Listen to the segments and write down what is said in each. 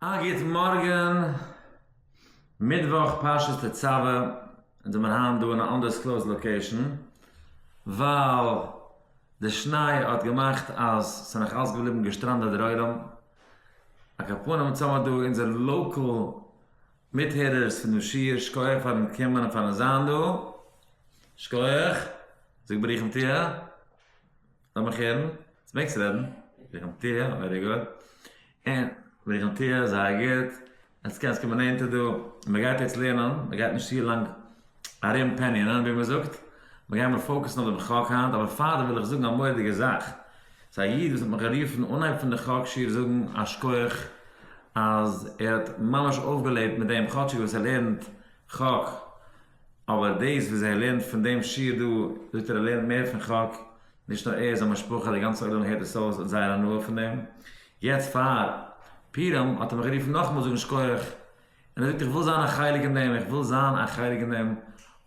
א גוט מארגען, מיטוואך פרשת תצוה, אונז זעמיר היינט דא אין א אנדערסקלאוזד לאקעישן, ווייל די שניי האט געמאכט אז ס'נאך אלס געבליבן געשטראנדעט דערהוילעם, א קאפאנעם צאמער דא אונזער לאקעל מיטהערערס פון די שיעור, שקויעך פארן קומען און פארן זיין דא, שקויעך, זאג ברוכים תהיה, לאמיך הערן, צו מעגסט רעדן, ברוכים תהיה, ווערי גוד. און וועגן תו א זייער גוט, עטס קענסט קומען נענטער דא, מען גייט יעצט לערנען, מען גייט נישט צו לאנג ארום פעניענען ווי מען זאגט, מען גיימער פאוקעסן אויף דעם חק היינט, אבער פאר דעם וויל איך זאגן א מורא'דיגע זאך, ס'איז א איד וואס האט מיך גערופן אנהייב פון די חק שיעור זאגן א שכח אז ער האט ממש אויפגעלעבט מיט דעם כאטשיג וואס ער לערנט חק, אבער דאס וואס ער לערנט פון דעם שיעור דא, זאגט ער ער לערנט מער פון חק, נישט נאר ער, זיין משפחה, די גאנצע עולם הערט עס אויס, האט זייער הנאה פון דעם. יעצט פאר פורים האט ער מיך גערופן נאכאמאל זאגן שקויעך, און ער זאגט איך וויל זיין א חלק אין דעם, איך וויל זיין א חלק אין דעם,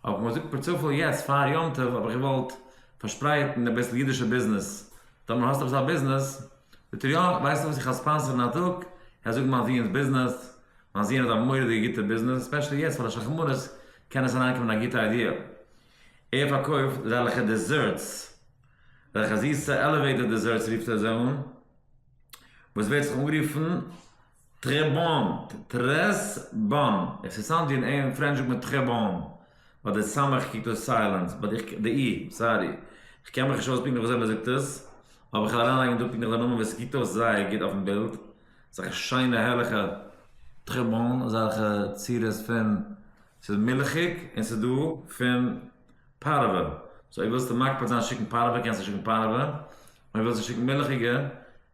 האב איך מיר געזאגט פארצופאל יעצט פאר יום טוב האב איך געוואלט פארשפרייטן אביסל אידישע ביזנעס, טאמער האסט עפעס א ביזנעס, זאגט ער יא, ווייסטו וואס איך האלט ספאנסערן א טאג, איך וועל זאגן מיין זוהן'ס ביזנעס, מיין זוהן האט א מורא'דיגע גוטע ביזנעס, ספעשעלי יעצט פאר די שחרמנות קען עס אריינקומען א גוטע איידיע. ער פארקויפט זעלכע דעזערטס, זעלכע זיסע עלעוועיטער דעזערטס רופט ער זיי אן, וואס ווערט זיך אנגערופן טרעבאן, טרעס באן, עס איז סאונד ווי אין פרענטש זאגט מען טרעבאן, ביי די סמך קוקט אויס סיילענס, ביי די אי, סארי, איך קען מיך נישט אויס פונקטליך ווי אזוי מען זאגט עס, אבער איך וועל אריינלייגן דא פונקטליך די נאמען וואס עס קוקט אויס זייער גוט אויפן בילד, אזעלכע שיינע הערליכע טרעבאן, אזעלכע צורות פון ס'איז מילכיג און ס'איז דא פון פארעווע, סאו אויב ווילסטו מקפיד זיין שיקן פארעווע קענסטו שיקן פארעווע, אויב ווילסטו שיקן מילכיגע,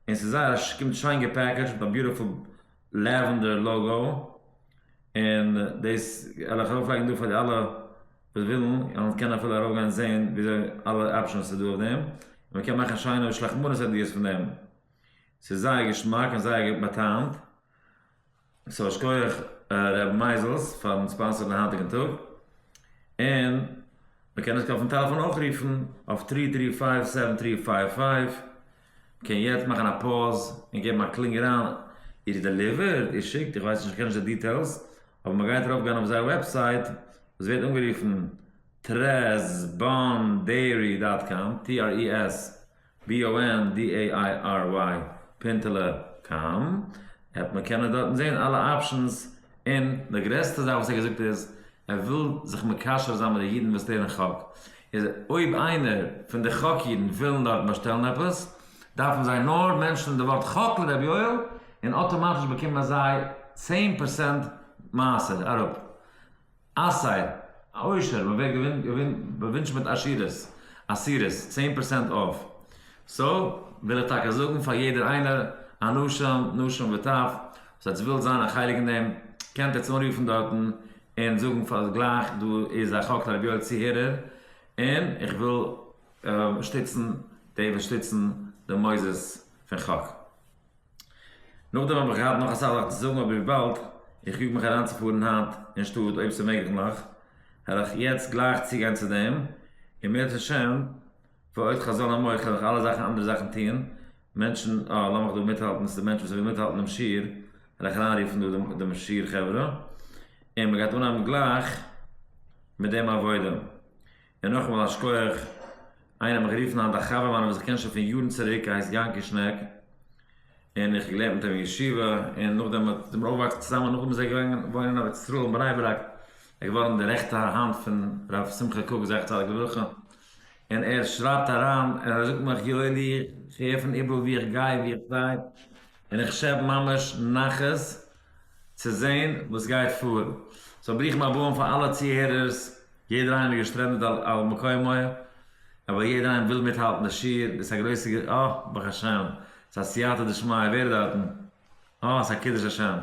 און ס'איז זייער א ס'קומט שיין געפעקעדזשט מיט א ביוטיפול לעווענדער לאגא, און דאס וועל איך ארויפלייגן דא פאר די אלע וואס ווילן, און קענען אפילו ארויפגיין זעהן וויאזוי אלע אפשענס ס'איז דא אויף דעם, און מ'קען מאכן שיינע שלחמנות אדיר'ס פון דעם, ס'איז זייער געשמאק און זייער באטעמ'ט. סאו א שקויעך ר' מייזעלס פארן ספאנסערן די היינטיגן טאג, און מען קען עס אויפן טעלעפאן אויך רופן אויף טרי טרי פייוו סעווען טרי פייוו פייוו, מען קען יעצט מאכן א פאוז און געבן א קלינג אריין, איר דעליווערט? איר שיקט? איך ווייס נישט איך קען נישט די דיטעילס, אבער מען גייט ארויף גיין אויף זייער וועבסייט וואס ווערט אנגערופן טרעז באן דעירי דאט קאם, TRES. BONDARY פינטעלע קאם עפפ מען קען דארטן זעהן אלע אפשענס און די גרעסטע זאך וואס ער האט געזאגט איז ער וויל זיך מקשר זיין מיט די אידן וואס לערנען חק איז אויב איינער פון די חק אידן ווילן דארט באשטעלן עפעס דארפן זיי נאר מענטשען די ווארט חק לר' יואל און אטאמאטיש באקומען זיי צען פערסענט מעשר אראפ. אסיי, א עושר, מען ווערט באווינטשט מיט עשירות, עשירות, צען פערסענט אףף, סאו וויל איך טאקע זאגן פאר יעדער איינער, אנשים, נשים וטף, וואס עטס ווילט זיין א חלק אין דעם, קענט עטס אנרופן דארטן און זאגן פאר גלייך דא איז א חק לרבי יואל צוהערער, און איך וויל שטיצן די וואס שטיצן די מוסדות פון חק. נאכדעם האב איך געהאט נאך אסאך זאכן צו זאגן אבער וויבאלד איך יאג מיך אריינצופארן היינט אין שטאט אויב ס'איז מעגליך העל איך יעצט גלייך צוגיין צו דעם און בעזרת השם ועוד חזון עמך העל איך אלע זאכן אנדערע זאכן טון מענטשן אה לאמיך דא מיטהאלטן ס'דא מענטשן וואס ווילן מיטהאלטן דעם שיעור העל איך אריינרופן דא דעם שיעור חברה און מ'גייט אנהייבן גלייך מיט דעם עבודה. און נאכאמאל א שקויעך, איינער האט מיך גערופן היינט א חבר מיינער וואס איך קען שוין פון יארן צוריק, ער הייסט יענקי שנעק, און איך האב געלערנט מיט אים אין ישיבה, און נאכדעם האט זענען מיר אויפגעוואקסן צוזאמען, נאכדעם איז ער געגאנגען וואוינען אין ארץ ישראל אין בני ברק, ער איז געווארן די רעכטע האנט פון ר' שמחה קוק זכר צדיק לברכה, און ער שרייבט אריין, און ער זאגט מיך יואלי איך הער פון איבעראל ווי איך גיי ווי איך זיי, און איך שעפ ממש נחת. צו זעהן וואס גייט פאר. סאו ברוכים הבאים פאר אלע צוהערערס, יעדער איינער איז געשטרענדעט על מקומו, אבער יעדער איינער וויל מיטהאלטן די שיעור, דאס איז א גרויסע ג-, אה, ברוך השם, ס'איז א סייעתא דשמיא, ווער איז דארטן? אה, ס'איז א קידוש השם,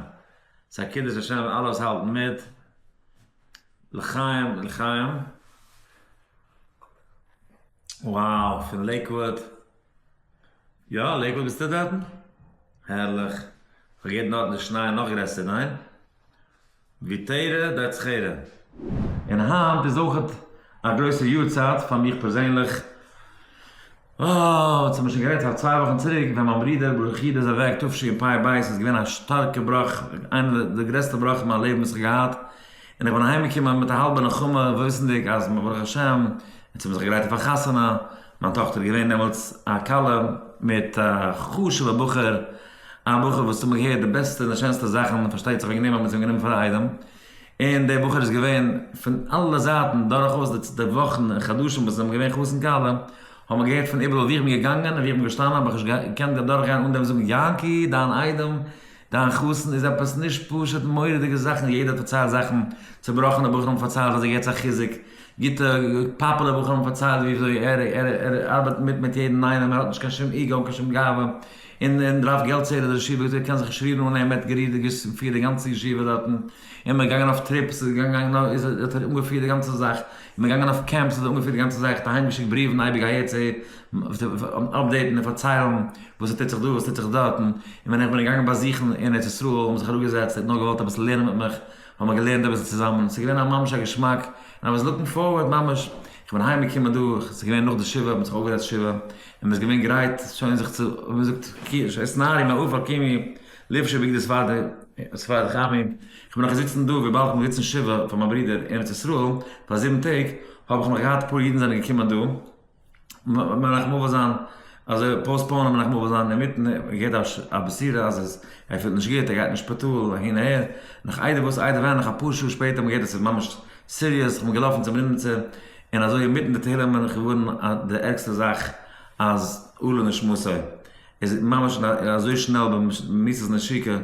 ס'איז א קידוש השם, אלע וואס האלטן מיט, לחיים, לחיים. וואו, פון לעיקוואד. יא, לעיקוואד ביסטו דארטן? הערליך! כ'האב געהערט דארטן איז שניי נאך גרעסער, ניין? ווי תרע ד די זכירה. און היינט איז אויכעט א גרויסע יארצייט פאר מיך פערזענליך. אוי, צו מיר שוין גערעדט פאר צוויי וואכן צוריק ווען מיין ברודער ברוך איד איז אוועק תשי פ ב' איז געווען א שטארקע בראך, איינע די גרעסטע בראך אין מיין לעבן וואס איך געהאט, און איך בין אהיימגעקומען מיט א האלבע נחמה וואוסנדיג אז ברוך השם אונז האבן זיך געגרייט אויף א חתונה, מיין טאכטער איז געווען דעמאלטס א כלה מיט א חשוב'ע בחור, א בחור וואס האט געהערט די בעסטע און די שענסטע זאכן, פארשטייט זיך וועגן דעם האט מען עס אים גענומען פאר א איידעם, און דער בחור איז געווען פון אלע זייטן דורכאויס די די וואכן און חדשים וואס זיי האבן געווען חתן כלה, האט מען געהערט פון איבעראל ווי איך בין געגאנגען און ווי איך בין געשטאנען האב איך נישט געקענט דורכגיין אן דעם זאגן יענקי דיין איידעם דיין חתן איז עפעס נישט פשוט מורא'דיגע זאכן יעדער פארציילט זאכן, צובראכענע בחורים פארציילט אז ער געט זיי חיזוק, גוטע פאפולער בחורים פארציילט וויאזוי ער ער ארבעט מיט מיט יעדן איינעם ער האט נישט קיין שום איגא און קיין שום גאווה און און דראפט געלט סדר די ישיבה וויאזוי ער קען זיך שרירן אן אים ער האט גערירט די געשט געפירט די גאנצע ישיבה דארטן און מען געגאנגען אויף טריפס איז געגאנגען איז האט ער אנגעפירט די גאנצע זאך און מען געגאנגען אויף קעמפס האט ער אנגעפירט די גאנצע זאך האט אהיימגעשיקט בריוון אייביג אהער צו אהער. אפדעיטן און פארציילן וואס ס'טוט זיך דא וואס ס'טוט זיך דארט, און ווען איך בין געגאנגען באזוכן אין ארץ ישראל האט מען זיך אראפגעזעצט ער האט נאר געוואלט אביסל לערנען מיט מיך, האבן מיר געלערנט אביסל צוזאמען, ס'איז געווען ממש א געשמאק, און איי וואס לוקינג פארווערד ממש, איך בין אהיים געקומען דא, ס'איז געווען נאך די שבעה האט מען זיך אויפגעזעצט שבעה, און מ'איז געווען גרייט שוין זיך צו ווי מען זאגט קידוש נאר אין אהוב על קימי לבשי בגדי ספרד חמי, איך בין נאך געזיצן דא וויבאלד איך בין געזיצן שבעה פאר מיין ברודער אין ארץ ישראל פאר זיבן טעג, האב איך נאך געהאט אפאר אידן זענען געקומען דא, מנחם אבא זיין אזוי פאוסטפאונען מנחם אבא זיין אינמיטן געהערט א בשורה אז עס ער פילט נישט גוט ער גייט אין שפיטאל אהין אהער נאך איידער וואס איידער ווען נאך אפאר שעה שפעטער האט מען געהערט אז עס איז ממש סיריעס איך בין געלאפן צום רימנצע און אזוי אינמיטן די תהלים בין איך געווארן אז די ערגסטע זאך אז עלו נשמתו איז ממש אזוי שנעל במיתות נשיקה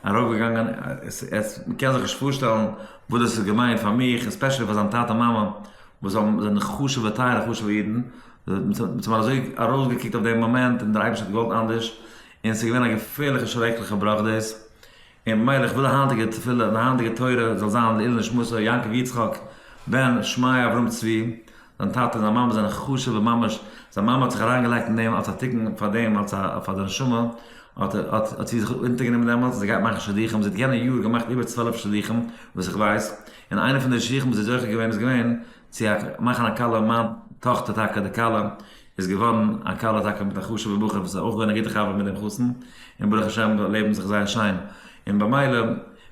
ארויף געגאנגען עס עס מען קען זיך נישט פארשטעלן וואס דאס איז געווען פאר מיך עספעשעלי פאר זיין טאטע מאמע וואס האבן זענען חשובע טייערע חשובע אידן, מ'האט זיך אזוי ארויסגעקוקט אויף דעם מאמענט און דער אייבערשטער האט געוואלט אנדערש, און ס'איז געווען א געפערליכע שרעקליכע בראך דאס, און במילא איך וויל די היינטיגע תפילה און די היינטיגע תורה זאל זיין לעילוי נשמתו יעקב יצחק בן שמעיה אברהם צבי, זיין טאטע און זיין מאמע זענען חשובע ממש, זיין מאמע האט זיך אריינגעלייגט אין דעם אלס א תיקון פאר דעם אלס א פאר די נשמה, האט האט זי זיך אונטערגענומען דעמאלטס, זי גייט מאכן שידוכים, זי האט יענע יאר געמאכט איבער צוועלף שידוכים וואס איך ווייס. און איינע פון די שיכון וואס איז זוכה געווען איז געווען צו מאכן א כלה, מיין טאכטער טאקע די כלה איז געווארן א כלה טאקע מיט א חשוב'ע בחור וואס איז אויך געווען א גוטע חבר מיט דעם חתן, און ברוך השם זיי לעבן זיך זייער שיין, און במילא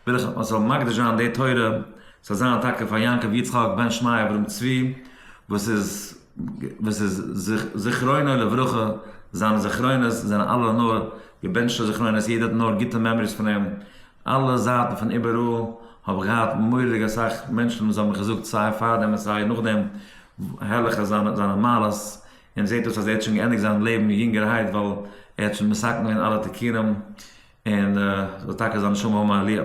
וויל איך מען זאל מקדיש זיין די תורה ס'זאל זיין טאקע פאר יעקב יצחק בן שמעי' אברהם צבי וואס איז וואס איז זכרונו לברכה, זיינע זכרונות זענען אלע נאר געבענטשטע זכרונות, יעדער האט נאר גוטע מעמאריס פון אים, אלע זייטן פון איבעראל האב איך געהאט מורא'דיג אסאך מענטשן וואס האבן געזאגט סיי פארדעם און סיי נאכדעם הערליכע זיינע זיינע מעלות און זעט אויס אז ער האט שוין געענדיגט זיין לעבן יונגערהייט ווייל ער האט שוין מסכם געווען אלע תיקונים און זאל טאקע זיין נשמה הומה עליה.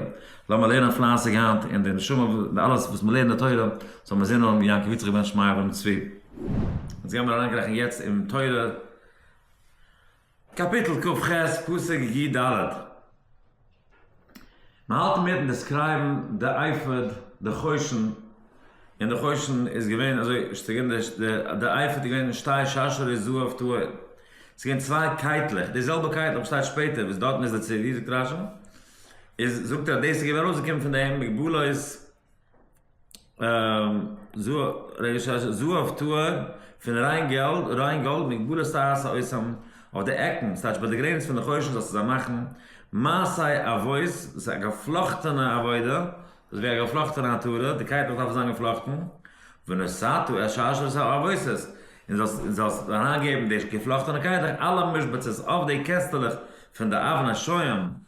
לאמיר לערנען פלייסיג היינט און די נשמה און אלעס וואס מען לערנט די תורה זאל מען זען אן יעקב יצחק בן שמעיה בן צבי. אונז גיימיר אריינקריכן יעצט אין תורה. קאפיטל כ ח, פסוק י ד, מען האלט אינמיטן דעסקרייבן די אייפאד, די חושן, און די חושן איז געווען אזוי שטגענדיג, די אייפאד איז געווען שתי שרשרי זהב טהור, ס'איז געווען צוויי קייטלעך, די זעלבע קייטל וואס שטייט שפעטער וואס דארטן איז די צבי, זאגט רש י, איז זאגט ער אז דאס איז געווען ארויסגעקומען פון דעם מגבלות זהב טהור, פון ריין געלד, ריין גאלד, מיט גבולות טהרת האויסעם, אויף די עקן, ס'טייטש ביי די גרעניץ פון די חושן זאלסטו זיי מאכן מעשי אבות, דאס איז א געפלאכטענע עבודה, דאס איז ווי א געפלאכטענע עטרה, די קייטלעך דארפן זיין געפלאכטן, ונשאתו את שרשרת האבות, און זאלסט אריינגעבן די געפלאכטענע קייטלעך, אלע משבצות, אויף די קעסטלעך פון די אבן השוהם,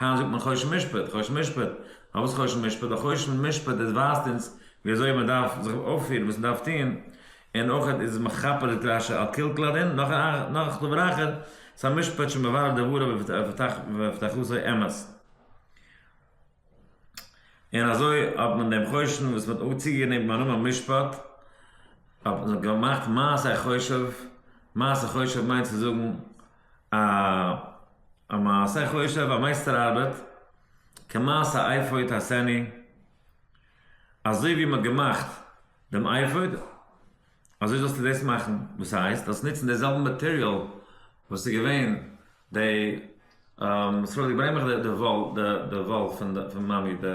היינט זאגט מען חושן משפט, חושן משפט, פארוואס חושן משפט? א חושן משפט איז ווייזט אונז ווי אזוי מען דארף זיך אויפפירן, וואס מען דארף טון, און אויך איז עס מכפר את רשע על כל כלל דין, נאך נאך כלב רחל, עס איז א משפט שמברר דבריו ופתחתו אמת. און אזוי האט מען דעם חושן וואס מען האט צוגענומען דעם נאמען משפט, האט מען געמאכט מעשה חושב, מעשה חושב מיינט צו זאגן. א א מעשה חושב, א מייסטער ארבעט, כמעשה אייפוד השני, אזוי ווי מ'האט געמאכט דעם אייפוד, אזוי זאלסטו דאס מאכן, וואס הייסט? זאלסט נוצן די זעלבע מאטעריאל וואס איז געווען די, ס'פארוואס געברענגט מיך די וואל, די וואל פון מאמי, די,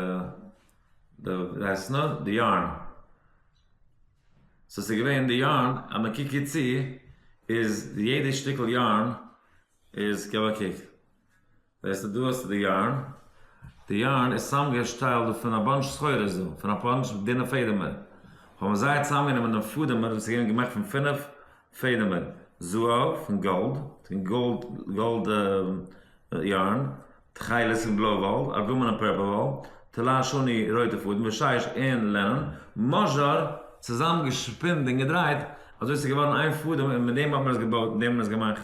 די, וויהייסט עס נאר? די יארן. סאו ס'איז געווען די יארן אז מען קוקט גוט צו איז יעדע שטיקל יארן איז כהאב געקוקט זעהסט דא האסטו די יארן די יארן איז צוזאמגעשטעלט דא פון א באנטש סחורות דא פון א באנטש דינע פעדעמער האבן זיי צוזאמגענומען דעם פעדעמער וואס איז געווען געמאכט פון פֿינף פעדעמען, זהב, פון גאלד, פון גאלד, גאלד יארן, תכלת, פון בלוי וואל, ארגומען און פערפל וואל, טלאי שני, רויטע פאדן, ושיש און לענען, מאזשאר, צוזאם געשפינט און געדרייט אזוי ס'איז געווארן איין פאדעם און מיט דעם האט מען עס געבויט און דעם האט מען עס געמאכט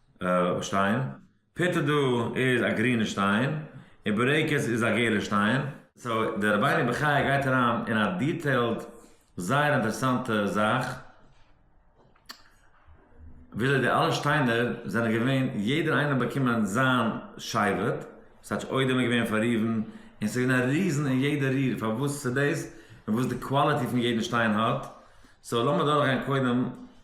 שטיין, פיטא דא איז א גרינע שטיין, און בורעקעס איז א געלע שטיין. סאו דער רבינו בחיי גייט אריין אין א דיטעילד זייער אינטערעסאנטע זאך וויאזוי די אלע שטיינער זענען געווען יעדער איינער האט באקומען זיין שבט סאטש אוידעם איז געווען פאר ראובן און סאיז געווען א ריזן אין יעדע ריר פארוואס סאיז דאס און וואס די קוואליטי פון יעדן שטיין האט סאו לאמיר דורכגיין קודם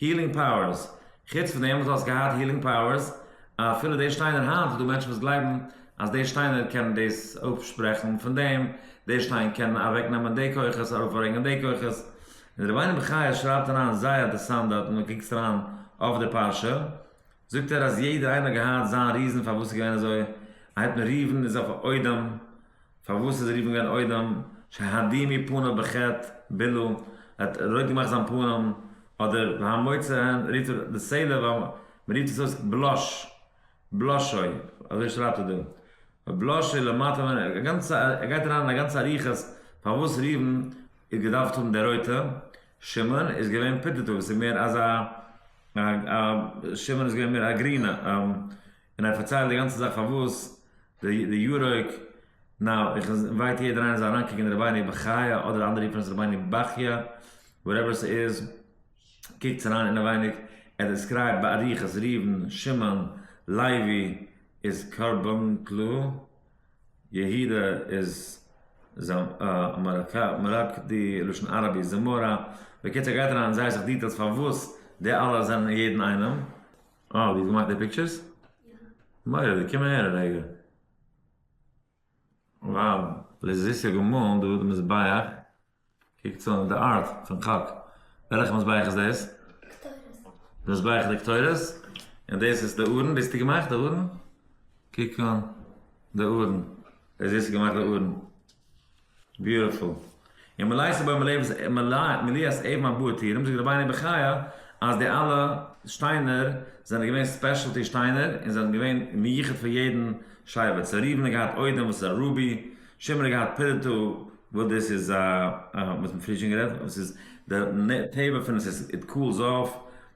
הילינג פאוערס, חוץ פון דעם וואס דו האסט געהאט הילינג פאוערס, אפילו די שטיינער היינט איז דא מענטשן וואס גלייבן אז די שטיינער קענען דאס אפשפרעכן פון דעם, די שטיין קען אוועק נעמען די כוחות ארויף ברענגען די כוחות, און רבינו בחיי שרייבט אריין זייער אדערסאנט דארט ווען דו קוקסט אריין אויף די פרשה, זאגט ער אז יעדער איינער האט געהאט זיין ריזען פארוואס ס'איז געווען אזוי, א התמריוון איז אויף א אודם, פארוואס איז ער גערופן געווארן אודם שהדימי פניו בחטא בילא ער האט רויט געמאכט זיין פנים אדער והמוצא הן רופט ער די סעלע ווייל מ'רופט עס אויס בלאש בלאשוי אזוי שרייבט ער דא ובלאשוי למטה ווען א גאנצע ער גייט אריין אין א גאנצע אריכות פארוואס ראובן איז געדארפט האבן די רויטע שמעון איז געווען פוטעטאו וואס איז מער אזא א א שמעון איז געווען מער א גרינע א. און ער האט פארציילט די גאנצע זאך פארוואס די יורוק נאו איך אינווייט יעדער איינער זאל אריינקוקן אין רבינו בחיי אדער אנדערע רופן עס רבינו בכיה וואטעווער ס'איז קוקטס אריין אינעווייניג ער דעסקרייבט באריכות ראובן שמעון לוי איז קרבן קלא יהודה איז זמרק די לשון ארבע איז זמורה בקיצור ער גייט אריין אין זייער סאך דיטעילס פארוואס די אלע זענען יעדן איינעם. אה, דו האסט געמאכט די פיקטשערס? מוראדיג, קום אהער א רגע. וואו, לזיסי געמאלן דוד מזבח, קוק צו און די ארט פון חק. וועלכע מזבח איז דאס? די מזבח די קטורת? און דאס איז די ארון ביסטו געמאכט די ארון? קוק אן די ארון, לזיסי געמאכט די ארון. ביוטיפול. און מלאי ס'בא מלאי מלאי אז עיב מיין באר טירם זאגט רבינו בחיי אז די אלע שטיינער זענען געווען ספעשעלטי שטיינער און זענען געווען מיוחד פאר יעדן שבט סא ראובן האט געהאט אודם וואס איז א רובי שמעון האט געהאט פירטו וואס דאס איז א מ'האט פריער שוין גערעדט וואס איז די טבע פון עס איז איט קולס אף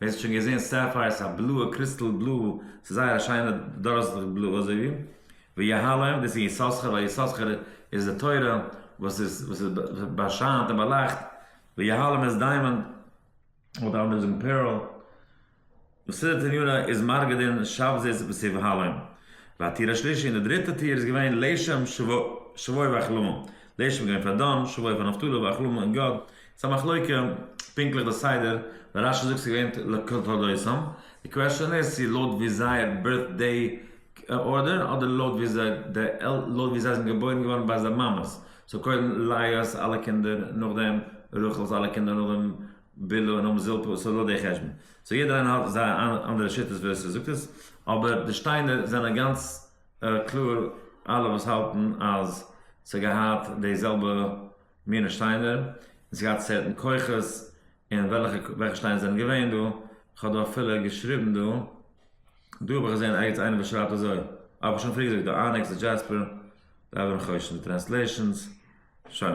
ווער ס'האט שוין געזעהן סעפייער איז א בלויע קריסטאל בלוי, ס'איז זייער א שיינע דארעסטליכע בלוי אזוי ווי ויהלום, דאס איז יששכר ווייל יששכר איז די תורה וואס איז וואס איז באשיינט און באלייכט, ויהלום איז דיימאנד אדער אנדערע זאגן פערל, מסילת עליונה איז מארגדין שבזית וואס איז יבהלום, והטיר השלישי און די דריטע טיר איז געווען לשם שבוי ואכלום, לשם איז געווען פאר דן, שבוי פאר נפתלי ואכלום און גד, ס'איז א מחלוקה פונקטליך די סדר, ווען רשי זאגט ס'איז געווען לתולדותם, די קוועשאן איז צו לויט ווי זייער בירט דעי ארדער אדער לויט ווי זיי זענען געבוירן געווארן ביי זייער מאמעס, סאו קודם ליה'ס אלע קינדער נאכדעם רחל'ס אלע קינדער נאכדעם בלהה און נאכדעם זלפה, סאו לויט דעי חשבון, סאו יעדער איינער האט זייער אנדערע שיטות ווי אזוי ס'זאגט עס, אבער די שטיינער זענען גאנץ קלאר אלע וואס האלטן אז ס'האט געהאט די זעלבע. מינע שטיינער, און ס'געהאט סערטען כוחות, און וועלכע וועלכע שטיינער זענען געווען דא, כ'האב דא אפילו געשריבן דא, דא האב איך געזען ערגעץ איינער וואס שרייבט אזוי, אבער כ'האב שוין פריער געזאגט דא אניקס די דזשעספער, די אבן חושן די טרענסלעישאנס, שוין.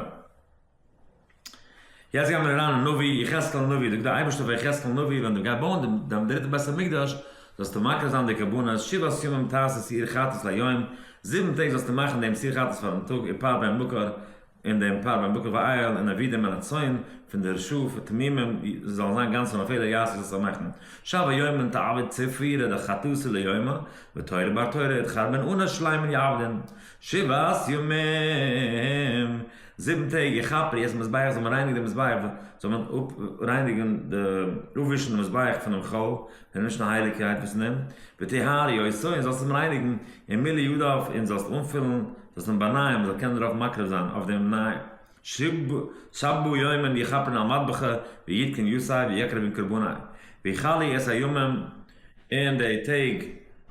יעצט גיימיר אריין אין נביא, יחזקאל הנביא, זאגט די אייבערשטער פאר יחזקאל הנביא ווען דו גיי בויען די דיין דריטע בית המקדש, זאלסטו מקריב זיין די קרבנות, שבעת ימים תעשה שעיר חטאת ליום, זיבן טעג זאלסטו מאכן דעם שעיר חטאת פארן טאג, איפאר דעם מקור, און דעם פאר בן בקר ואייל און אבידים און הצאן פון דער שו פ תמימים זיי זאלן זיין גאנץ און אפילו יעשו זיי שמחתן שב היומם תעבד צפרי רעדה חטאתי ליומא ותורה בר תורה אתחרבן אנא שלימין יעבדין שבעת ימים זיבן טעג איך כאפ ר יעצט מזבח זאל מען רייניגן די מזבח זאל מען אפ רייניגן די אפווישן די מזבח פונעם חול און נישט מיין הייליגקייט וואס נעם, וטהר יעשו און זאלסט אים רייניגן, און מילא ידיו און זאלסט אנפילן, זאלסט אים באנייען מען זאל קענען דערויף מקריב זיין אויף דעם נייעם, שב בו יום און יכפר על מטבחו ויתקן יסעיו ויקריב און קרבני, ויכלי את הימים און די טעג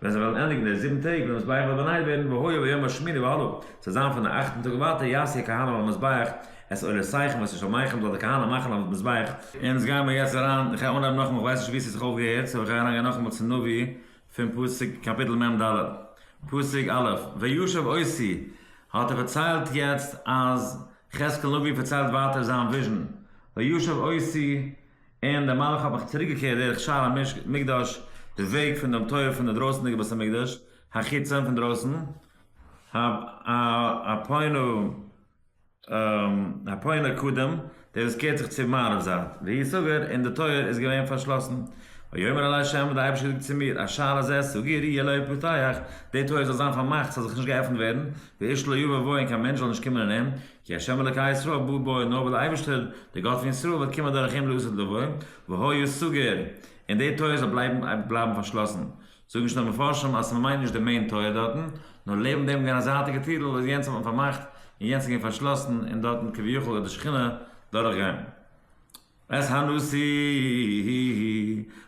ווען זיי וועלן ענדיגן די זיבן טעג ווען המזבח וועט באנייט ווערן, והיה ביום השמיני והלאה, ס'זאל זיין פון די אכטן טאג און ווייטער יעשה כהנא על המזבח, עס עולה סייך וואס איז מייחם זאל די כהנא מאכן אויף מזבח. אונז גייען מיר יעצט אריין, איך גיי אנהייבן נאכאמאל, כ'ווייס נישט ווי ס'האט זיך אויפגעהערט, סאו כ'גיי אריינגיין נאכאמאל צום נביא פון פסוק קאפיטל מ ד, פסוק א', וישב עושי, האט ער פארציילט יעצט אז יחזקאל נביא פארציילט ווייטער זיין וויזשן, וישב עושי, און דער מלאך האט מיך צוריק געקערט דורך שער המקדש, די וועג פון דעם טויער פון די דרויסענדיגע בית המקדש, החיצון פון דרויסן, ה ה פונו. הפוענא קדם, דער וואס קערט זיך צום מערב זייט, והיא סגור, און די טויער איז געווען פארשלאסן. ויאמר אלי ה', האט דער אייבערשטער געזאגט צו מיר, השער הזה סגור יהיה לא יפתח, דער טויער זאל זיין פארמאכט, ס'זאל זיך נישט געעפנט ווערן, ואיש לא יבא בו, און קיין מענטש זאל נישט קומען אין אים, כי ה' אלוקי ישראל בא בו, נאר ווייל דער אייבערשטער, דער גאט פון ישראל, וועט קומען דורך אים לעשות לבו, והוא יהיה סגור, און דער טויער זאל בלייבן פארשלאסן. זאגן שוין די מפרשים אז מ'מיינט נישט די מעין טויער דארטן, נאר לעבן דעם געווען א זייטיגע טירל וואס יענץ האט מען פארמאכט און יענץ איז געווען פארשלאסן און דארטן כביכול האט די שכינה דורך געגאנגען. ס ה נשיא,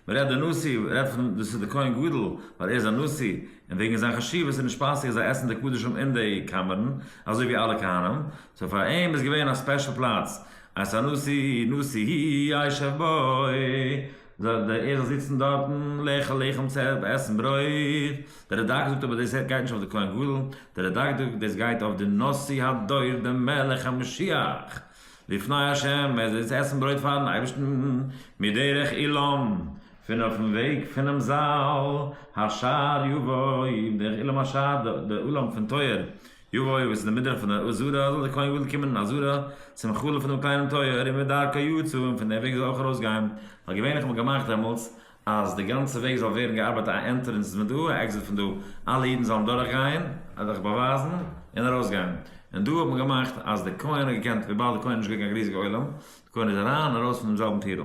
מ'רעדט די נשיא רעדט פון דאס איז די כהן גדול ווייל ער איז א נשיא און וועגן זיין חשיבות איז נישט פאסיג זיי עסן די קדשים אין די קאמערן אזוי ווי אלע כהנים, סאו פאר אים איז געווען א ספעשל פלאץ אז ס'איז א נשיא, נשיא הישב ב. זאָל דער ערל זיצן דאָרטן, לעכל לעכום צעפּ, עסן ברויט. דער רדאַק זאָגט אָבער, דאָס גייט נישט אויף די כהן-גדול. דער רדאַק זאָגט, דאָס גייט אויף די נשיא הדור, דעם מלך המשיח. לפני השם, ער זאָל איצט עסן ברויט פאַרן אייבערשטן, מדרך אילם, פון אויפן וועג פונעם זאַל. השער יבוא, דרך אילם השער, דער אילם פון טויער, יבוא יבוא צו די מדרח פון די עזרה זאל דער כהן גדול קומען אין עזרה צום חלף פון דעם קליינעם טויער און מדרכו יצא און פון דעם וועג זאל אויך ארויס גיין ווייל געווענליך האט מען געמאכט דעמאלטס אז די גאנצע וועג זאל ווערן געארבייט א ענטרענס איז מען דא א עקזיט פון דא אלע אידן זאלן דורך גיין זיך באווייזן און ארויס גיין און דא האט מען געמאכט אז דער כהן האט געקענט וויבאלד דער כהן איז נישט געווען קיין ריזיגע עולם דער כהן איז אריין און ארויס פון דעם זעלבן טירל.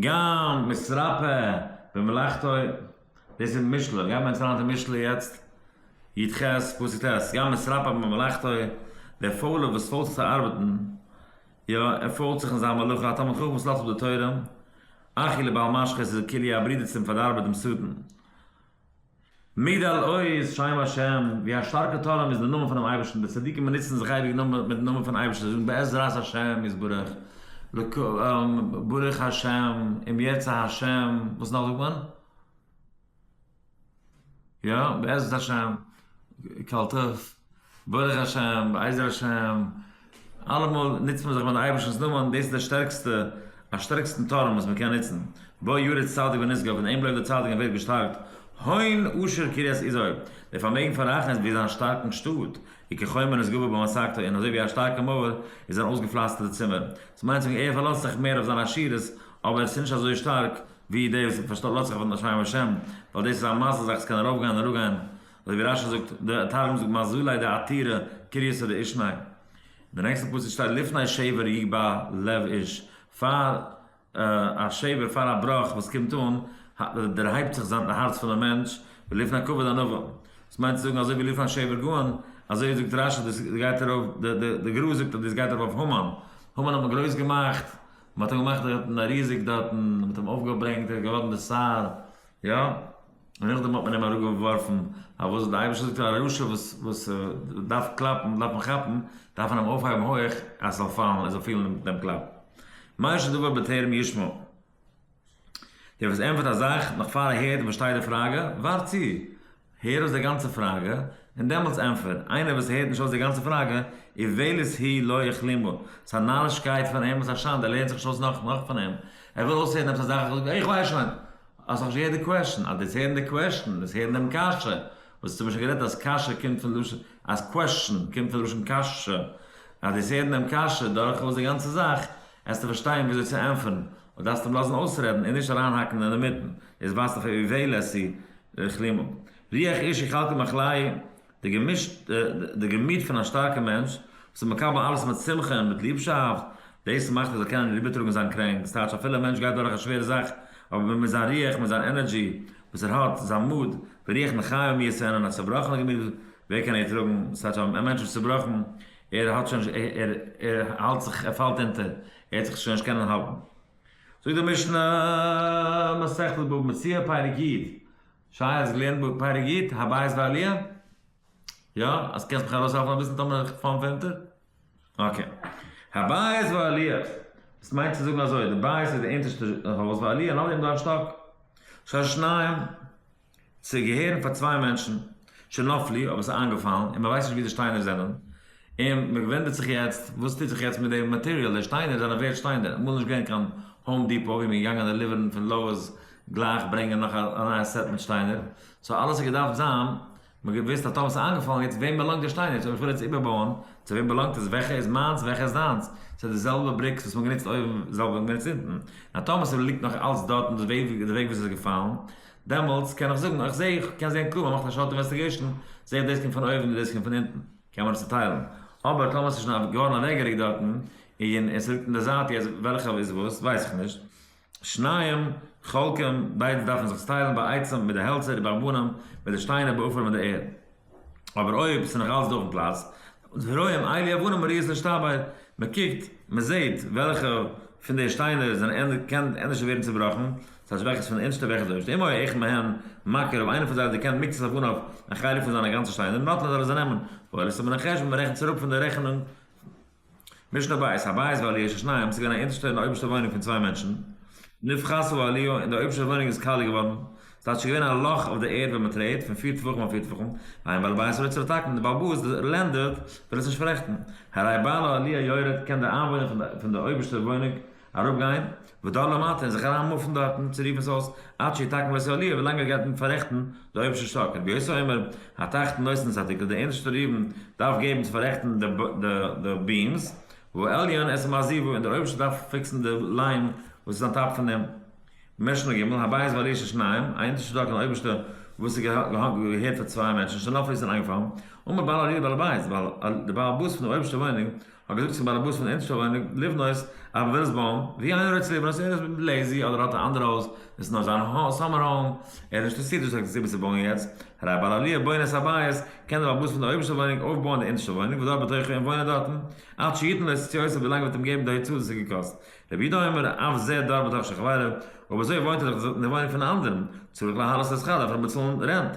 גאנג מצרפה במלאכתו, דאס איז משלי, גיימיר אונז לייענען די משלי יעצט, יט ח פסוק ט', גאנג מצרפה במלאכתו, דער פוילער וואס פוילט זיך צו ארבעטן, יא, ער פוילט זיך אין זיין מלאכה, א תלמיד חכם וואס לאזט אפ די תורה, אחי לבעל משחית איז כליה א ברודער צום פארדארבער דעם שטן. מעיד על עוז שם השם, ווי א שטארקע טורעם איז די נאמען פונעם אייבערשטן, די צדיקים באנוצן זיך אייביג נאר מיטן נאמען פונעם אייבערשטן, זיי זאגן בעזרת השם יתברך, ברוך השם, אם ירצה השם, וואס נאך זאגט מען? יא, בעזרת השם. קאלטעס, ברוך השם, בעזר השם, אלעמאל נוצט מען זיך מיט די אייבערשטנ'ס נאמען, דאס איז די שטערקסטע, א שטערקסטן טורעם וואס מען קען נוצן, בא ירד צדיק ונשגב, און אים לויפט די צדיק און ווערט געשטארקט, הון עושר קריית איזור, דער פארמעגן פון רחל איז ווי זיין שטארקן שטאט, און כחומה נשגבה בו משגתו, און אזוי ווי א שטארקע מויער איז זיין אויסגעפלאסטערטע צימער, דאס מיינט צו זאגן ער פארלאזט זיך מער אויף זיין עשירות, אבער עס איז נישט אזוי שטארק ווי די וואס האבן פארשטאט לאזט זיך אויף נאך שמים השם, ווייל דאס איז א מעשה זאך עס קען ארויף גיין אראפ גיין, אזוי ווי רשי זאגט, די תרגום זאגט מזלי די עתירה קריסא דאישנאי, און די נעקסטע פסוק שטייט לפני שבר יגבה לב איש, פאר א שבר פאר א בראך וואס קומט אן דערהייבט זיך זיין די הארץ פון די מענטש, ולפני כבד ענווה, דאס מיינט צו זאגן אזוי ווי לפני שבר גאון, אזוי זאגט רשי דאס גייט ארויף, די גרא זאגט אז דאס גייט ארויף אויף המן, המן האט מען גרויס געמאכט, מען האט אים געמאכט דארטן א ריזיג דארטן, מען האט אים אויפגעברענגט, ער האט געווארן די שר, יא, און נאכדעם האט מען אים אראפגעווארפן, פארוואס האט די אייבערשטער געזאגט א רשע וואס וואס דארף קלאפן וואס דארף מען כאפן, דארף מען אים אויפהייבן הויך אז עס זאל פאלן, ער זאל פילן דעם קלאפ, מה שדובר בטרם ישמע. דער וואס ענטפערט א זאך נאך פאר ער הערט און פארשטייט די פראגע, ווארט צו, הער אויס די גאנצע פראגע, און דעמאלטס ענטפער. איינער וואס הערט נישט אויס די גאנצע פראגע, איוועלת היא לא יכלימו, ס'איז א נארישקייט פון אים, ס'איז א שאנד, ער לערנט זיך נישט אויס נאך נאך פון אים, ער וויל אויסהערן עפעס א זאך, ער זאגט, איך ווייס שוין, האסט נאכנישט געהערט די קוועשן, אז דו האסט הערן די קוועשן, דאס הערן דעם קשיא, וואס צו מיר שוין גערעדט אז קשיא קומט פון לשון, אז קוועשן קומט פון לשון קשיא, אז דו האסט הערן דעם קשיא דורכאויס די גאנצע זאך, עסטו פארשטיין וויאזוי צו ענטפערן, אויב דארפסטו אים לאזן אויסרעדן און נישט אריינהאקן אינמיטן, איז ווייזט אויף ער ווי וועל עשי כלימו. רוח איש איך האלט אים א כליה, די געמישט די געמיט פון א שטארקע מענטש, וואס איז מקבל אלעס מיט שמחה און מיט ליבשאפט, דאס מאכט ער זאל קענען איבערטראגן זיין קרענק, ס'טייטש אפילו א מענטש גייט דורך א שווערע זאך, אבער מיט זיין רוח, מיט זיין ענערדזשי וואס ער האט, זיין מוד, ורוח מחיה מי יעשה און א צובראכענע געמיט ווער קען ער טראגן, ס'טייטש א מענטש איז צובראכן, ער האט שוין נישט ער ער האלט זיך ער פאלט אונטער, ער העט זיך שוין נישט קענען האלטן. זאגט די משנה, מסכת בבא מציעא, פרק יד, שייך האסט געלערנט בבא פרק יד, הבית ועליה? יא? אז קענסט מיך ארויס העלפן אביסל טאמער איך פאל פונטער? אקעי. הבית ועליה, דאס מיינט צו זאגן אזוי, די בית איז די אונטערשטע הויז, ועליה נאך דעם דארט שטאק, שש שניים. צו געהערן פאר צוויי מענטשן, שנפל לי, אבער עס איז איינגעפאלן, און מען ווייסט נישט ווי די שטיינער זענען, און מען וואונדערט זיך יעצט וואס טוט זיך יעצט מיט די מאטעריאל, די שטיינער זענען ווערד שטיינער, אמאל איז נישט געווען קיין האום דיפאו ווי מען איז געגאנגען דעליווערן פון לאוערס גלייך ברענגען נאך א נייע סעט מיט שטיינער, סאו אלעס האט געדארפט זיין, מען האט געוואוסט אז טאמער עס איז איינגעפאלן יעצט וועם באלאנגט די שטיינער, אויב איך וויל יעצט איבערבויען, צו וועם באלאנגט עס, וועלכע איז מיינס וועלכע איז דיינס, ס'איז די זעלבע בריקס וואס מען האט גענוצט אויבן, די זעלבע וואס מען גענוצט אונטן, און אז טאמער ס'ליגט נאך אלץ דארטן די וועג וואס עס איז געפאלן, דעמאלטס קען איך זאגן איך זעה איך קען זעהן קלאר מען מאכט א שארט אינוועסטיגעישן זעה איך דאס קומט פון אויבן און דאס קומט פון אונטן קען מען עס צוטיילן אבער טאמער עס איז שוין געווארן אוועקגעריקט דארטן און עס ליגט אין די זייט יעצט וועלכע איז וואס ווייס איך נישט שניים חלקים ביידע דארפן זיך צוטיילן בעצם מיט די העלצער די בארבנים מיט די שטיינער בעפאר מיט די ערד. אבער אויב ס'איז נאך אלץ דא אויפן פלאץ, ורואים אי לי אבנים אריות להשתבר, מ'קוקט, מ'זעהט וועלכע פון די שטיינער זענען קען ענדערש ווערן צובראכן, ס'טייטש וועלכע איז פון אונטשטע וועלכע איז אויבשטע, אם היה אחד מהן מכה רוב איינער פון זיי האט געקענט מיקצות אויף אנהויב א חלק פון זיינע גאנצע שטיינער נאטלען זאל ער זיי נעמען, וואויל איז צו מנחש ווען מ'רעכנט צוריק פון די רעכענונג. משנה בית, הבית ועליה איז שניים, עס איז געווען א אונטערשטע און א אויבערשטע וואוינונג פון צוויי מענטשן, נבחר סביב העליה, און די אויבערשטע וואוינונג איז קאלע געווארן, עס איז טאקע שוין געווען א לאך אויף די ערד ווען מען טרעט, פון פיר טפחים אויף פיר טפחים, איין בעל הבית וויל עס צורטאקן, די בעל באס, די לענדלארד, וויל עס נישט פאררעכטן, הרי בעל העליה יורד, קען די איינוואוינער פון די אויבערשטע וואוינונג אראפ גיין, ודל למטה, און זיך אריין מופן דארטן, צו רופן עס אויס, עד שיתקן בית העליה, ווילאנג ער גייט ניט פאררעכטן די אויבערשטע שטאק, רבי יוסי אומר, התחתן נושא נושא התקרה, דער אונטערשטער ראובן דארף געבן צו פאררעכטן די ביעמס, והעליון עשה מעזיבו, און דער אויבערשטער דארף פיקסן די ליים וואס איז אן טאפ פון אים. משנה ג', הבית ועליה של שניים, א אונטערשטע שטאק און אויבערשטע וואס איז געהערט פאר צוויי מענטשן, שנפל איז און איינגעפאלן, אמר בעל עליה בעל הבית, ווייל דער בעל הבית פון די אויבערשטע וואוינונג האט געזאגט צום באלעבאס פון אונז שוין לבנות א ווילסבאום ווי איינער האט צוליב אז ער איז לעזי אדער האט א אנדערע הויז דאס איז נאר זיין סאמער האום ער איז נישט אינטערסירט דאס איז א סיבה צו בויען יעצט הרב בעל עליה בונה את הבית קען דער באלעבאס פון די אויבערשטע וואוינונג אויפבויען די אונטערשטע וואוינונג ודור בתוכו און וואוינען דארטן עד שיתן לו עשית יוסף ווילאנג ער וועט אים געבן די הוצאה דאס האט געקאסט רבי יהודה אומר אף זה דור בתוך שכברו אויב אזוי וואוינט ער דאך אין די וואוינונג פון א אנדערן צריך להעלות את השכר דארף ער באצאלן רענט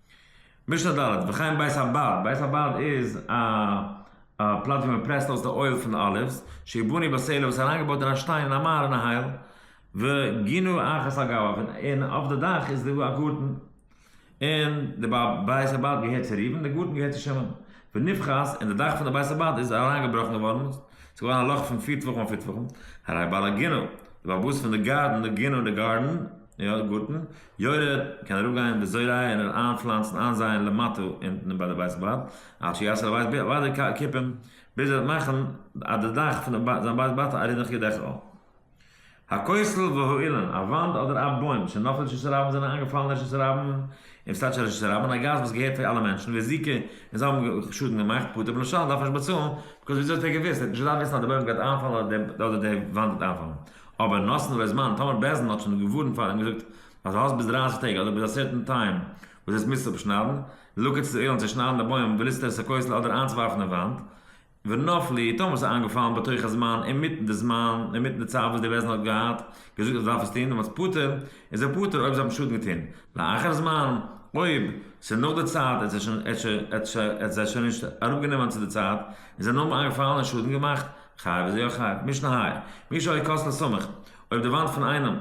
משנה ד', וכן בית הבד, בית הבד איז א א פלאץ ווי מען פרעסט אויס די אויל פון די אליווס, שי' בנוי בסלע וואס איז אריינגעבויט אין א שטיין אין א מהר אין א הייל, וגינו אחת על גביו, און אויף די דאך איז דא א גארטן, און די בית הבד געהערט צו ראובן און די גארטן געהערט צו שמעון, ונבחז, און די דאך פון די בית הבד איז אריינגעבראכן געווארן, עס איז געווארן א לאך פון פיר טפחים אויף פיר טפחים, הרי בעל הגינו, די בעל הבית פון די גארטן, גינו די גארדן. יא די גארטן יורד קען אראפ גיין אין די זרע און איר איין פלאנצן איין זייען למטה אונטן ביי די בית בד עד שיעשה לבית בד וויידער קיפים ביז ער וועט מאכן אז די דאך פון זיין בית בד א רינעך ידך א הכותל והאילן א וואנט אדער א בוים שנפל רשות הרבים זענען איינגעפאלן רשות הרבים און וואס טייטש רשות הרבים א גאס וואס געהערט פאר אלע מענטשן ווי זיקע און זיי האבן שאדן געמאכט פטור בלשון דארף נישט באצאלן בקוז וויאזוי האט ער געוואוסט ער האט נישט געדארפט וויסן אז די בוים גייט איינפאלן אדער די וואנט גייט איינפאלן. אבער נאסן אויף די זמן טאמער בעז ן האט שוין געווארנט פאר און געזאגט אז האסט ביז דרײַסיק טעג אדער ביז א סערטען טיים וואס דאס מוזסטו אפשניידן לאקערט צו די אוילן צו שניידן די בוים וליסטער עס א קויסל אדער איינצוווארפן אין וואנט ונפ ל טאמער עס איז איינגעפאלן בתוך הזמן אינמיטן די זמן אינמיטן די צייט וואס די בעז ן האט געהאט געזאגט אז דארף עס טון דעמאלטס פטור איז ער פטור אויב זיי האבן שאדן געטון לאחר זמן אויב ס'איז נאך די צייט עס איז שוין עס איז שוין עס איז זיי שוין נישט אראפגענומען צו די צייט און זיי נאר איינגעפאלן און שאדן געמאכט חייב איז יא חייב, מיש נהיי, מי שלא כוס לא סומך, אויב די וואנט פון איינעם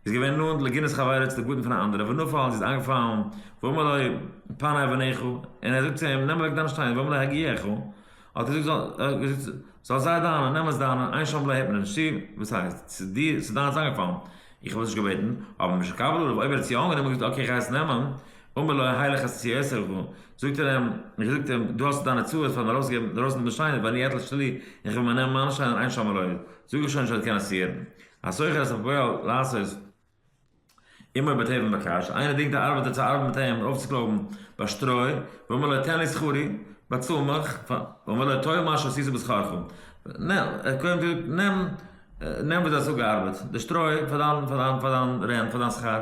איז געווען נאנט לגינת חברו צו די פאטן פון א אנדערע ונפל און זי איז איינגעפאלן ואמר לו פנה אבניך און ער האט געזאגט צו אים נעם אוועק דיינע שטיינער ואמר לו הגיעך האט ער געזאגט זאל זיי דיינע נעם עס דיינע עיין שם לא הערט מען נישט צו וואס הייסט ס'איז דיינס איז איינגעפאלן איך האב עס נישט געבעטן אבער משהקבל עליו אויב ער האט עס יא אנגענומען און געזאגט אקעי איך גיי עס נעמען אמר לו ה' לך עשה כי אעשה לך, זאגט ער אים, און געזאגט אים, דו האסט דיינע צרות פארן ארויסגעבן דערויסן דעם שיינער, ואני אתלש שלי, און כ'וועל מיר נעמען מיינע שיינער, עיין שם אלוהי, זאג איך שוין שוין קען עס יעדן. הסוחר את הפועל לעשות עמו בטוב ומבקש, איינער דינגט א ארבעטער צו ארבעטן מיט אים און אויפצוקלויבן ביי שטרוי, ואומר לו תן לי שכרי, באצאל מיך, ואומר לו טול מה שעשית בשכרך, נעם, ער קודם זאגט, נעם, נעם וואס דו האסט אפגעארבעט, די שטרוי, פאר דיין, פאר דיין, פאר דיין רענט, פאר דיין שכר.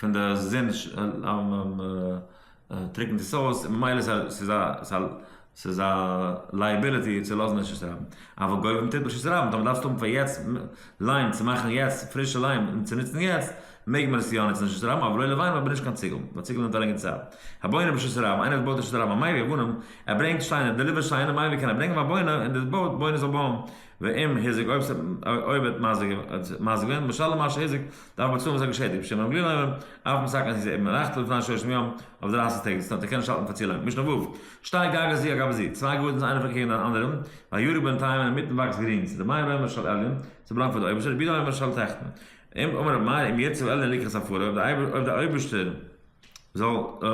פון די זון טריקענט עס אויס און ממילא ס'איז א ס'איז א לייעביליטי צו לאזן רשות הרבים. אבער גוי ווען מ'טוט ברשות הרבים טאמער דארפסטו האבן פאר יעצט ליים צו מאכן יעצט פרישע ליים און צו נוצן יעצט מעג מען עס יא נוצן רשות הרבים אבער לא לוויין אבער נישט קיין ציגל ווייל ציגל נעמט א לענגערע צייט. הבונה ברשות הרבים איינער וואס בויט רשות הרבים א מייבי הבונים ער ברענגט שטיינער דעליווער שטיינער מייבי קען ער ברענגען פאר בונה און די בויט בונה זאל בויען ואם היזק אויב האט מזיק ווען משלם מה שהיזק דארף באצאלן וואס ער האט געשעדיגט בשם הרב גרינהיימער, אף משא כ אז זי איז עירבן נחתל לפני שלושים יום אויף דרייסיג טעג זיצן האט ער קענען נישט האלטן פאר צולאנג. משנה ו', שטארק גאגא זיע גאבא זיע, צוויי גארטנס איינער פארקעגן דעם אנדערן, והירק בינתיים און אינמיטן וואקסט גרינס, ר' מאיר אומר של עליון, ס'בלאנגט פאר די אויבערשטער, ר' יהודה אומר של תחתון. אמר ר' מאיר אם ירצה אלוהים לקח ספרו, אויב די אויבערשטער. זאל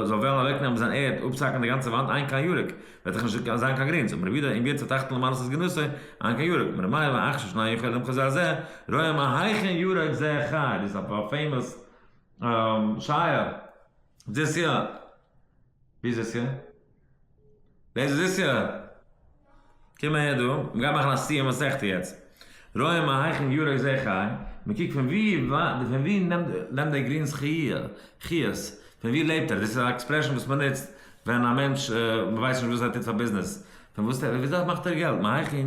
זאל וועלן אוועקנעמען זיין ערד אפצהאקן די גאנצע וואנט איין קיין ירק וועט דאך נישט זיין קיין גרינס און רבי יהודה אין ווערט צוטאכטן למען עשות גנותו איין קיין ירק מר' מאיר ואח ש שני יכולים כזה הזה רואה מה היכן ירק זה חי דאס איז א פעימאס שייער דזיס יאר ווי איז דאס יאר? ווער איז דאס יא? קום אהער דא, מ'גייט מאכן א סיום מסכתא יעצט. רואה מה היכן יראה זה חי, מ'קוקט פון ווי וויי פון ווי נעמט דער גרינס חיות, פון ווי לעבט ער, דאס איז א עקספרעשאן וואס מ'נוצט ווען א מענטש מ'ווייסט נישט וואס ער טוט פאר ביזנעס, פון וואס מאכט ער געלט, מה היכן.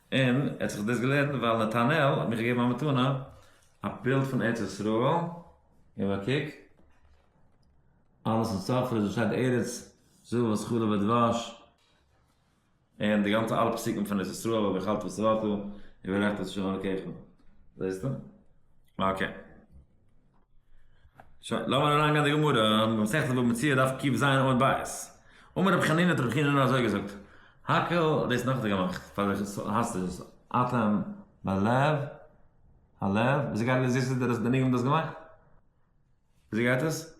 און ער האט זיך דאס געלערנט ווייל נתנאל האט מיר געגעבן א מתנה א בילד פון ארץ ישראל, גיב א קוק, אלעס אין צפרא וואס שטייט ארץ זבת חלב ודבש, און די גאנצע אלע פסוקים פון ארץ ישראל אויב איך האלט וואס איך האלט דא, וברכת את ה' אלקיך, זעסטו? אקעי. שוין, לאמיר אריין גיין אין די גמרא, מסכת בבא מציעא דף קיב ז עמוד ב', אמר רבי חנינא האט רבי חייא נ א אזוי געזאגט, האקעל האט דאס נאכדעם געמאכט, פאר וועלכע סארט האסטו דאס אטעם בלב הלב, וויאזוי גייט עס, וויאזוי האט דער ניגון דאס געמאכט? וויאזוי גייט עס?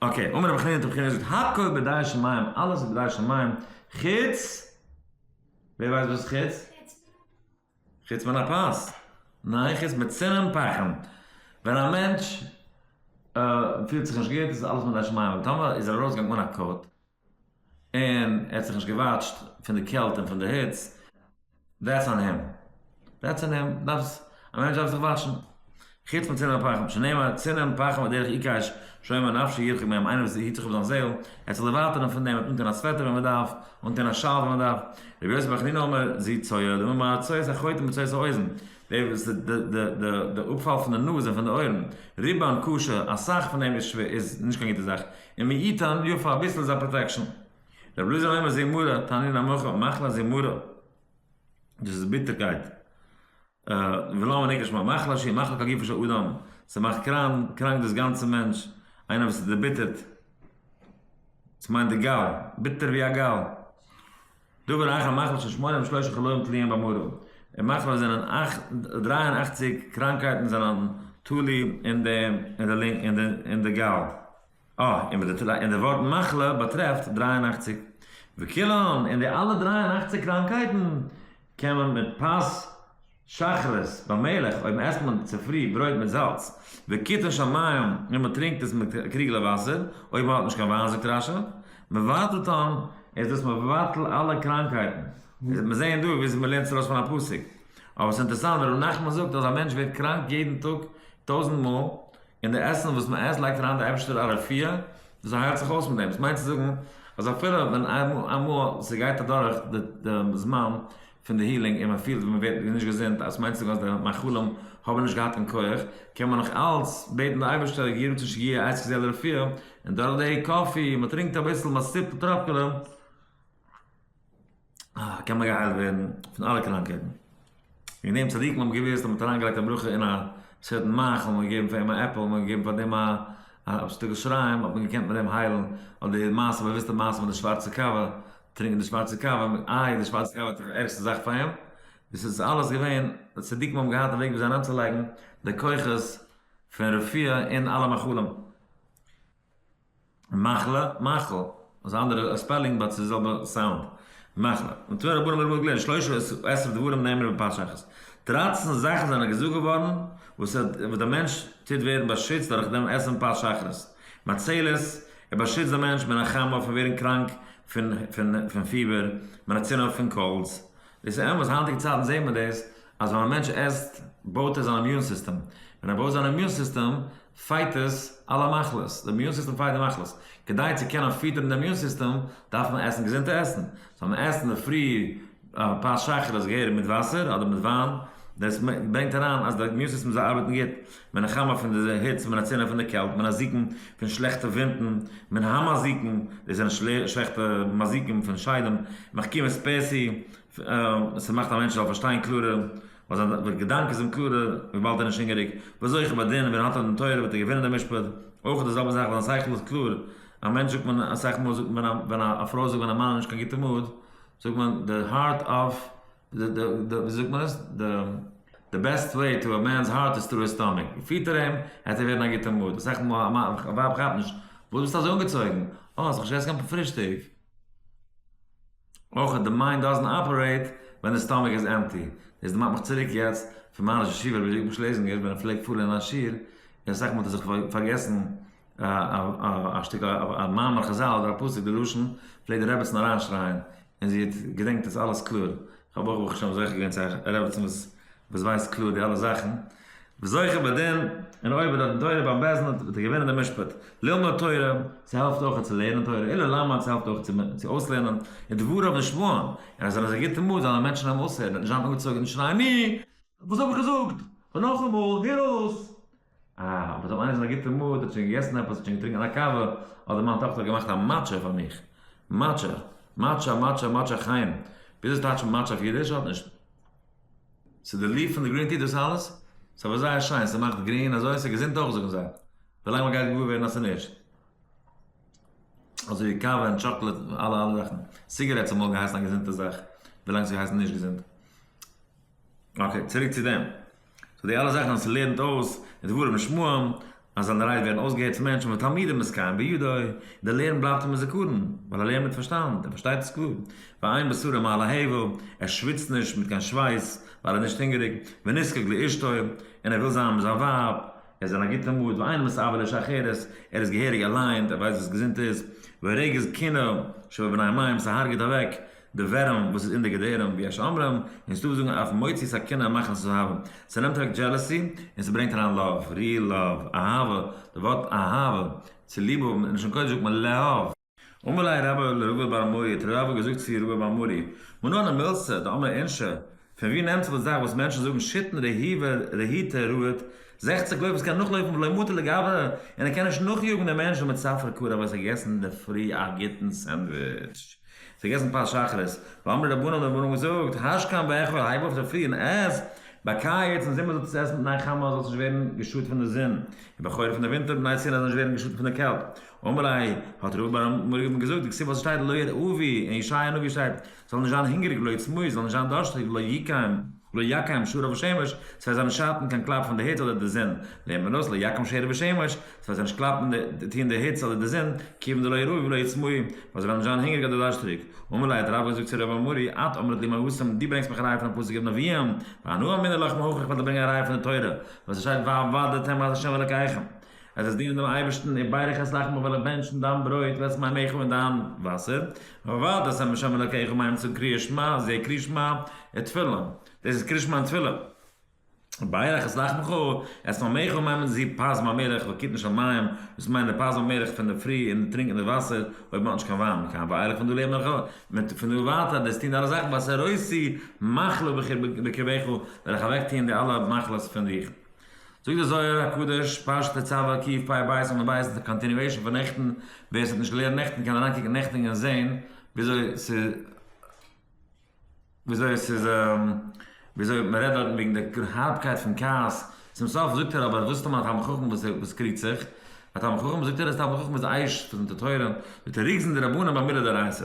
אקעי, אמער רבי חנינא האט רבי חנינא געזאגט הכל בדעה של מים, אלעס איז בדעה של מים, חוץ, ווער ווייסט וואס איז חוץ? חוץ מן הפז, ניין חוץ מצינן פחם, ווען א מענטש פילט זיך נישט גוט איז אלעס בדעה של מים, אבער טאמער איז ער ארויסגעגאנגען אן א קאוט, און ער האט זיך נישט געוואטשט פון די קעלט און פון די היץ, דעטס אן הים, דעטס אן הים, דארפסט, א מענטש דארף זיך וואטשן, חוץ מצנע הפחם, שנאמר צנע פחם הדרך עיקש שומר נפשו ירחק מהם, איינער וואס היט זיך אויף זיין זעהל, ער האט זיך דערווייטערן פון דעם, ער האט אנטון א סוועטער ווען מען דארף, אנטון א שאל ווען מען דארף, רבי יוסף בן חנינא אומר, זי צויה, דמי מרת צויית החוטים בצויית האוזן, דער וואס די די די די די אפפאל פון די נאז און פון די אויערן, ריבאן ק ש, אסאך פון דעם איז שווער איז נישט קיין גוטע זאך, און מי יתן יא פאר אביסל איז א פראטעקשאן. רבי אלעזר אומר זיע מרה, תענין המחר, מחלה זיע מרה, דאס איז ביטערקייט, ולמה נקראת מרה, מחלה שהיא מחלק הגוף של האדם, ס'מאכט קראנק דאס גאנצע מענטש, איינער וואס איז דערביטערט, ס'מיינט די גאל, ביטער ווי א גאל. דבר אייך א מחלה של שמונים ושלושה חלאים תלויים במראה, די מחלה זענען דרײַ און אַכציק קראנקייטן זענען תלוי אין די אין די גאל, אה און וואס די און די ווארט מחלה באטרעפט דרײַ און אַכציק וכולן און די אלע דרײַ און אַכציק קראנקייטן קען מען מיט פס שחרית, ביי מלך, אויב עסט מען צופרי ברויט מיט זאלץ, וקיטון של מים, און מען טרינקט עס מיט קריגלעך וואסער, אויב מען האט נישט קיין וויין זאגט רש א, מבטל טעם, איז דאס מבטל אלע קראנקהייטן, מיר זעען דא וויאזוי מען לערנט עס ארויס פון א פסוק, אבער עס איז אינטערעסאנט ווען ר' נחמן זאגט אז א מענטש ווערט קראנק יעדן טאג טויזנט מאל, אין די עסן וואס מען עסט לייגט אריין די אייבערשטער א רפואה, דאס הייילט זיך אויס מיט דעם, דאס מיינט צו זאגן אז אפילו ווען איינמאל ס'גייט אדורך די זמן פון די הילינג און מען פילט ווי מען ווערט נישט געזונט, אז ס'מיינט צו זאגן אז די מאכלים האבן נישט געהאט קיין כח, קען מען נאך אלץ בעטן די אייבערשטער יהי רצון שיגיע עת כזה לרפואה, און דורך די קאפי, מען טרינקט אביסל, מען סיפט א טראפקעלע, קען מען געהיילט ווערן פון אלע קראנקייטן. וועגן דעם צדיקים האבן געוואוסט אז מ'האט אריינגעלייגט א ברכה אין א צווייטן מח, האט מען געגעבן פאר אים א עפל, האט מען געגעבן פאר דעם א א שטיקל שריים, האט מען געקענט מיט דעם היילן, אדער די מעשה, באוואוסטע מעשה מיט די שווארצע קאווע, טרינקען די שווארצע קאווע, איי די שווארצע קאווע האט זיך ערגסטע זאך פאר אים, דאס איז אלעס געווען, די צדיקים האבן געהאט א וועג וויאזוי אריינצולייגן די כוחות פון רפואה אין אלע מאכלים. מחלה, מאכל, איז א אנדערע ספעלינג באט ס'איז די זעלבע סאונד, מחלה. ונתנו רבנן לרבו גלען שלשה עשר דברים נאמרו בפרשה אחת. דרײַצן זאכן זענען געזאגט געווארן וואס דער מענטש טוט ווערן באשיצט דורך דעם עסן פרשה אחת. מצילת, ער באשיצט דעם מענטש מן החמה פון ווערן קראנק פון פיבער, מן הצנע פון קאלדס. דאס איז אמת, היינטיגע צייטן זעט מען דאס אז ווען א מענטש עסט בויט ער זיין אימיון סיסטעם, ווען ער בויט זיין אימיון סיסטעם פייט עס אלע מחלות, די אימיון סיסטעם פייט די מחלות, כדי צו קענען פיטערן די אימיון סיסטעם דארף מען עסן געזונטע עסן, זאל מען עסן אינדערפרי א פאר שייכעלעך געהעריג מיט וואסער אדער מיט וויין, דאס ברענגט אריין אז די אימיון סיסטעם זאל ארבעטן גוט, מען נחמה פון די היץ, מען הצלה פון די קעלט, מען הזיקן פון שלעכטע ווינטן, מען המזיקן, דאס זענען שלעכטע מזיקים פון שדים, מחכים את פעסי, סע מאכט א מענטש זאל פארשטיין קלארער, ווייל זיין געדאנק איז אים קלארער, וויבאלד ער איז נישט הונגעריג. ווי אזוי איך באדין ווען האט ער דעם תורה וועט ער געווינען דעם משפט. אויך איז די זעלבע זאך ווען זיין שכל איז קלאר. א מענטש זאגט מען אסאך מאל זאגט מען ווען א פרוי זאגט ווען א מאן איז נישט קיין גוטע מאד, זאגט מען די הארט אף די די די ווי זאגט מען עס די די בעסט וועי טו א מענס הארט איז טרו היז סטאמיק. פיט ער אים העט ער ווערן א גוטע מאד. אסאך מאל א ווייב כאפט נישט. וואס ביסטו אזוי אנגעצויגן? אה, האסט נאך נישט געסן קיין פרישטאג? אויך אז די מיינד דאזענט אפערעיט ווען די סטאמאק איז עמפטי. דאס דערמאנט מיך צוריק יעצט פון מיין ראש ישיבה רבי זשעקאב שלעזינגער ווען ער פלעגט פארן אין א שיעור און אסאך מאל האט ער זיך פארגעסן א שטיקל א מאמר חזל אדער א פסוק די לשון פלעגט די רעבעצן אריינשרייען און זי האט געדענקט עס אלעס קלאר. כ'האב אויך ברוך השם זוכה געווען צו א רעבעצן וואס ווייסט קלאר די אלע זאכן. וזוכה בדין, און אויב האט ער דאן תורה ביים בעסט דין וועט ער געווינען די משפט. ללמוד תורה, ס'העלפט אויך צו לערנען תורה, אילו ללמד, ס'העלפט אויך צו אויסלערנען, און דבריו נשמעון, און אז ער איז א גוטער מוד זאלען מענטשען אים אויסהערען און נישט זיין אנגעצויגען און שרייען ני! וואס האב איך געזאגט? און נאכאמאל, הער אויס! אה, אבער טאמער איינער איז אין א גוטער מוד, האט שוין געגעסען עפעס, האט שוין געטרינקען א קאווע, אדער מיין טאכטער האט געמאכט א מאטשע פאר מיך. מאטשע! מאטשע! מאטשע! מאטשע! חיים! וויאזוי טייטשט מען מאטשע אויף אידיש? האט נישט. ס'איז די ליפט פון די גרין טי דאס אלעס? ס'איז אבער זייער שיין, ס'מאכט גרין אזוי, ס'איז געזונט אויך זאגן זיי. ווילאנג מ'גייט געוואר ווערן אז ס'איז נישט. אזויווי קאווע און טשאקלעט און אלע אלע זאכן. סיגערעטס האט אמאל געהייסן א געזונטע זאך, ווילאנג ס'גייט הייסן נישט געזונט. אקעי, צוריק צו דעם. סאו די אלע זאכן וואס לערנט אויס די דברים ושמועים אז זיינע רייד ווערן אויסגעהערט פון מענטשן ותלמידים עסקיים בידו, די לערן בלייבט אים אין זכרון, ווייל ער לערנט מיט פארשטאנד, ער פארשטייט עס קלאר, ועיין בספרים מעלה ה' ו, ער שוויצט נישט מיט קיין שווייס ווייל ער איז נישט הונגעריג, ונזקק לאשתו, און ער וויל זיין מיט זיין ווייב, ער איז אין א גוטע מוד, ואין מסבה לאיש אחרת, ער איז געהעריג ערליינט, ער ווייסט וואס געזונט איז, ורגז קנא שבבני מים, ס'הארגעט אוועק די ווערעם וואס איז אין די געדערים ווי יש אומרים, און ס'דא וואס זאגן אויף מוציא סכינה מאכן עס אהבה, ס'נעמט אוועק דזשעלעסי און ס'ברענגט אריין לאוו, ריעל לאוו, אהבה, די ווארט אהבה, צוליב האבן, אין לשון קודש זאגט מען לאהוב. אמר ליה רבא לרבה בר מרי, האט רבא געזאגט צו רבא בר מרי, מנא נמילסא דאמר אינשא, פון ווי נעמט זיך די זאך וואס מענטשן זאגן שיטין רהיבה רהיטא רהט, זעכציק לויף וואס קען נאכלויפן ולא מוטה לגביה, און ער קען נישט נאכיאגן דעם מענטש דערמיט ספרא קרא ווייל עס האט געגעסן אינדערפרי א גוטן סענדוויטש. ס'איז געגעסן פת שחרית. ואמרי רבנן האבן מיר אמאל געזאגט, הש קמ ואכול, הייב אויף צופרי און עס, ביי ק א יעצט אין זומער זאלסטו עס עסן בתנאי חמה אז זאלסט נישט ווערן געשאדט פון די זון, און ביי חורף אין די ווינטער בתנאי צונען אז נישט ווערן געשאדט פון די קעלט. אמרי, האט ר' אברהם מיר געבן געזאגט די כתובה וואס שטייט לא ירעבי, אין ישעיה הנביא שטייט, זאל נישט זיין הונגעריג ולא יצמא, זאל נישט זיין דארשטיג, לא יקיים. לא יקם שור אויף השמש, ס'וועט זיי נישט שאטן קיין קלאפ פון די היץ אדער די זון, לעומת זאת לא יקום שעיר בשמש, ס'וועט זיי נישט קלאפן טון די היץ אדער די זון, כיוון דלא יראו ולא יצמאו, ווייל זיי וועלן נישט זיין הונגעריג אדער דארשטעריג. אמר ליה די רבי האט געזאגט צו רבי אמרי, את אומרת לי מאוסים, דו ברענגסט מיך א ראיה פון א פסוק אין נביאים, והנאה אמינא לך מהוכח, כ'וועל דיר ברענגען א ראיה פון די תורה, וואס עס שטייט והעבדתם את השם אלוקיכם, עס זאָל דינען דעם אײבערשטן, און בײדע חסלאַכן בו װעל איך בענטשן, דײַן ברױט װעסט מײַן מעכל און דײַן װאַסער, װאַרט, אַז ה' השם אלוקיך מים צום קריאת-שמע, זע קריאת-שמע איז תפלה, דאָס איז קריאת-שמע און תפלה. בײדע חסלאַכן בך, עסט מײַן מעכל און מײַן מן זיפּ, פּאַז מײַן מלך װעל קוטן של מים, װאָס מײַנט דער פּאַז מײַן מלך פֿון דער פֿרי, און דער טרינק און דער װאַסער, אױב מע האָט נישט קײן װײַן, קײן װײלעך פֿון דאָ לעבן איך אױך, מיט פֿון דאָ װײַטער דאָס טאָן אַלע זאַכן, װאָסער עושי מחלה בקרבך, װעל איך אַװעקטאָן די אַלע מחלות פֿון דיך. זאגט דער זוהר הקדוש, פרשת תצוה א קיעפ פאר בית און לבית איז די קאנטיניועישן פון נעכטן, ווער עס האט נישט געלערנט נעכטן קען אריינקוקן נעכטן און זעהן וויאזוי ס' וויאזוי עס איז וויאזוי מען רעדט דארטן וועגן די הארבקייט פון כעס, צום סוף זאגט ער אבער וואס טאמער א תלמיד חכם וואס איז וואס קריגט זיך, א תלמיד חכם זאגט ער אז תלמיד חכם איז עייש פון די תורה, זאגט ער רוגזין דרבנן במילא דאורייתא,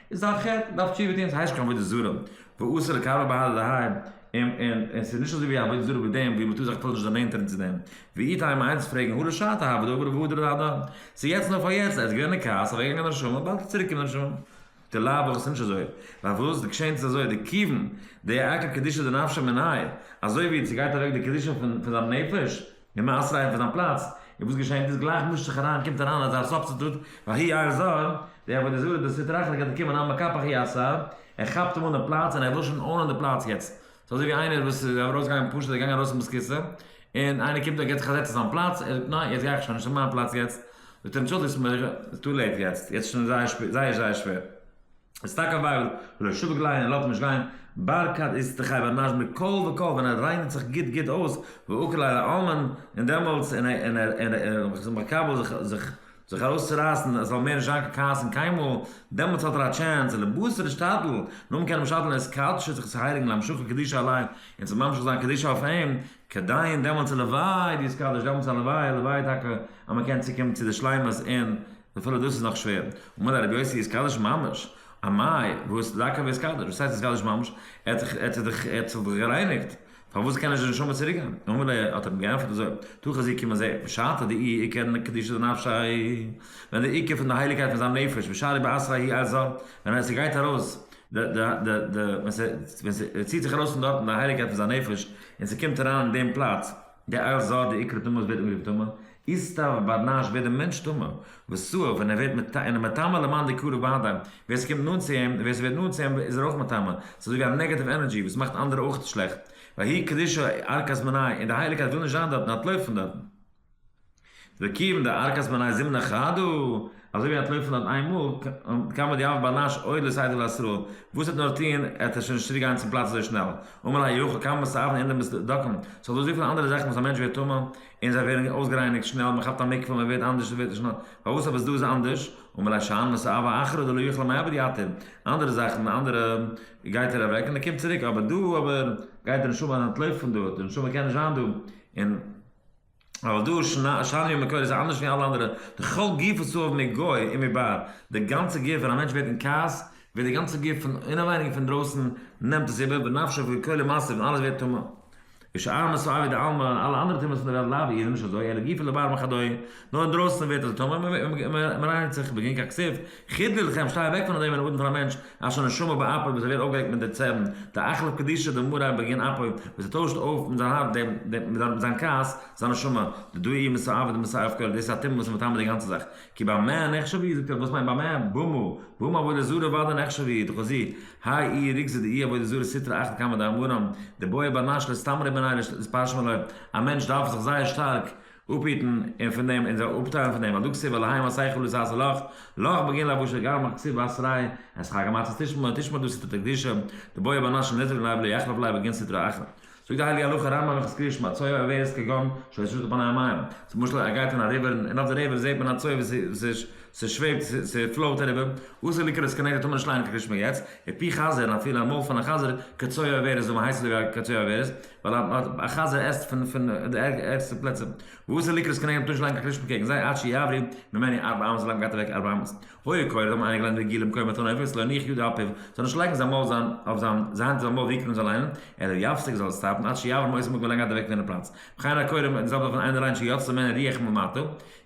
איז א חטא דארף תשובה טון, ס'הייסט נישט קיין עבודה זרה, ואסור לקבר באהלה דהאי, און און און ס'איז נישט אזוי ווי עבודה זרה ווי דעם ווי מ'טאר זיך אפילו נישט דערנענטערן צו דעם, ואיתא המה איינס פרעגן הא לשעתא הא ודא עבירא והודרא דהדא, ס'איז יעצט נאר פאר יעצט, ער איז געווען אין כעס, אוועק געגאנגען די נשמה, באלד צוריק קומט די נשמה. די לאו וואך איז נישט אזוי, ווייל וואס, די געשעעניש איז אזוי, די כיוון, די עקר קדושה דנפשי מנין, אזוי ווי צו גייט אוועק די קדושה פון פון זיין נפש, נעם אסר'ן פון זיין פלאץ, און וואס געשענט איז, גלייך מישט זיך אריין, קומט אריין אזא סובסטיטוט, ואחי יאיר זאב, די עבודה זרה, די סטרא אחרא גייט אנקומען אן מקפח אי עשיו, ער כאפט אים אן די פלאץ, און ער וויל שוין אנען די פלאץ יעצט, ס'איז אזוי ווי איינער וואס איז ארויסגעגאנגען פשוט, ער איז געגאנגען ארויס מיט ס'כיסא, און איינער קומט און גייט זיך אזעצן אין זיין פלאץ, ער זאגט ניין, יעצט גיי איך שוין, נישט מיין פלאץ יעצט, זאגט אים טשולדיגסט מיר, ס'איז טו לעיט יעצט, יעצט איז שוין זייער זייער זייער שווער. איז טאקע א בייבל, ולא ישובק ליה און לאט אים נישט גיין, בר כד איז ת ח ונז מכל וכל ווען ער ריינערט זיך גוט גוט אויס, ואוקל על האלמן, און דעמאלטס און איז מקבל זיך זיך ארויסצורייסן עס זאל מער נישט זיין קיין כעס און קיינמאל, דעמאלטס האט ער א טשענס, און לבסר השתדל, נאר מען קען אים שדלן עס קדשו זיך צו הייליגן להמשכה קדישא עליו, און צו ממשיך זיין קדישא אויף אים, כדאי און דעמאלטס הלוואי די איז קדוש דעמאלטס הלוואי הלוואי טאקע אז מען קען צוקומען צו די שלימות און אפילו דאס איז נאך שווער. אמר לה רבי יוסי איז קדוש ממש? אמאי, וואס דקה וואס קדוש? וואס הייסט איז קדוש ממש? ער האט זיך ער האט זיך דאך גערייניגט, פארוואס קען נישט די נשמה צוריק גיין? אמר לה, האט ער אים געענטפערט אזוי, תוך חזיר קום און זע, בשעתא דאי עיקר קדושא דנפשי, ווען דער עיקר פון די הייליגקייט פון זיין נפש בשערי בעשרה היא עזה, ווען עס גייט ארויס די די די די ווען ס'ציט זיך ארויס פון דארטן די הייליגקייט פון זיין נפש און ס'קומט אריין אין דעם פלאץ, די איל זא, די עיקר טומאה וואס ווערט אנגערופן טומאה, איז טא ו ביי נאש ווערט די מענטש טמא, וסא ו ווען ער ווערט מטמא און איז מטמא למען די קרוב אהדה, ווער ס'קומט נאנט צו אים און ווער ס'ווערט נאנט צו אים איז ער אויך מטמא, ס'איז אזויווי א נעגעטיוו ענערדזשי וואס מאכט אנדערע אויך שלעכט, והאי קדישא ערקת מנין, און די הייליגקייט וויל נישט זיין דארטן, אנטלויפן פון דארטן. וקיוום די ארכת מני זימנה חדא, אזוי ווי אנטלויפן דארט איין מאל, קאן מען די אב באנאש אוי לסייעתא דלעשרה, וואס ער נאר טוהן, ער וועט שוין נישט צוריק גיין צום פלאץ אזוי שנעל, אמער לה יוכא כמה מסעוון אין די מסדקם, ס'האט דא אזויפיל אנדערע זאכן וואס א מענטש ווערט טמא, און זיי ווערן אויסגערייניגט שנעל, מען כאפט א מקווה, מען ווערט אנדערש, ווערט נישט נא, פארוואס אבער איז דא איז אנדערש, אמער לה שאין מסעוון אחרא דלא יוכלא מעבר יתיר, אנדערע זאכן, אנדערע גייט ער אוועק און ער קומט צוריק, אבער דא אבער גייט די נשמה אנטלויפן פון דארט, די נשמה קען נישט זיין דא, און. אבער דא שני המקור איז אנדערש ווי אלע אנדערע, די כל גופו צהוב מגוי און מבער, די גאנצע גוף ווען א מענטש ווערט אין כעס ווערט די גאנצע גוף פון אינעווייניג און פון דרויסן נעמט עס איבער ונפשו וכל מעשיו און אלעס ווערט טמא, ושאר מסואב ווי די אלמא אלע אנדערע טומאות פון די וועלט לאו איז נישט אזוי אלא גופו לבער מכדוי נאר אינדרויסן ווערט עס טמא און מען רייניגט זיך בגין ככסוף חוץ דער לכם, שטיי אוועק פון אזוי ווען אנגערופן פאר א מענטש אשר נשמה באפו וואס ער ווערט אויפגעוועקט מיט די צערן, די אכלה קדישא דמרא בגין אפו, וואס ער טוישט אויף מיט זיין הארץ דעם, דעם, מיט זיין, זיין כעס, זיין נשמה, די דא אי מסא אבד ומסא הפקר, דאס איז א טומאה וואס איז מטמא די גאנצע זאך, כי במה נחשב היא, זאגט ער, וואס מיינט במה? במה? במה עבודה זרה ודאי נחשב היא, דחזי, האי אי ריכזא דאי עבודה זרה סטרא אחרא קמא דאמרן, די בעה ב נש ל סתם ר' בערנאי ר ש, די פרשה מלוה, א מענטש דארף זיך זייער שטארק, אפהיטן און פון דעם אונזער אפטיילן פון דעם אדג סי' ווייל להיי מעשי חולין סאסא לך לך בגין לבוש הגר מח כסיל ואת ריי עשך הגר מצות תשמור תשמור דו סתתא קדישא דבויע באנשים נזרין לייב לא יחלף לייב בגין סטרא אחרא זאגט די הייליגע הלכה רמב ם חזקי ישמע צויי עבירות כגון שעות שטות פני המים צו משל ער גייט אין א ריווער און אויף די ריווער זעהט מען א צויי וואס ס'שוועבט ס'פלאוט אריבער אסור לקרות כנגד טמא לשליין כגשמי געץ ע פ חז ל און אפילו א מויל פון א חזיר כצויי עבירות זאל מען הייסן זאגאר כצויי עבירות ווייל א חזיר עסט פון די ערגסטע פלעצער. וואס איז ליקוט זקנינו תשל א געקלישט מקעגן זיי עד שיעברו ממני ארבע אמות ווילאנג גייט אוועק ארבע אמות. הוי קורא זיי האבן איינגעליינט די גלים קוים אתון עופות לא יניח יד על פיו זאל נישט לייגן זיין מויל זיין אויף זיין זיין האנט אויף זיין מויל ווי קוים זאל ליינען אלא יפסיק זאל עס סטאפן עד שיעבור מאות אמות ווילאנג גייט אוועק פון די פלאץ וכן הקורא די זעלבע פון איינער ריין שיצא ממנו ריח ממטה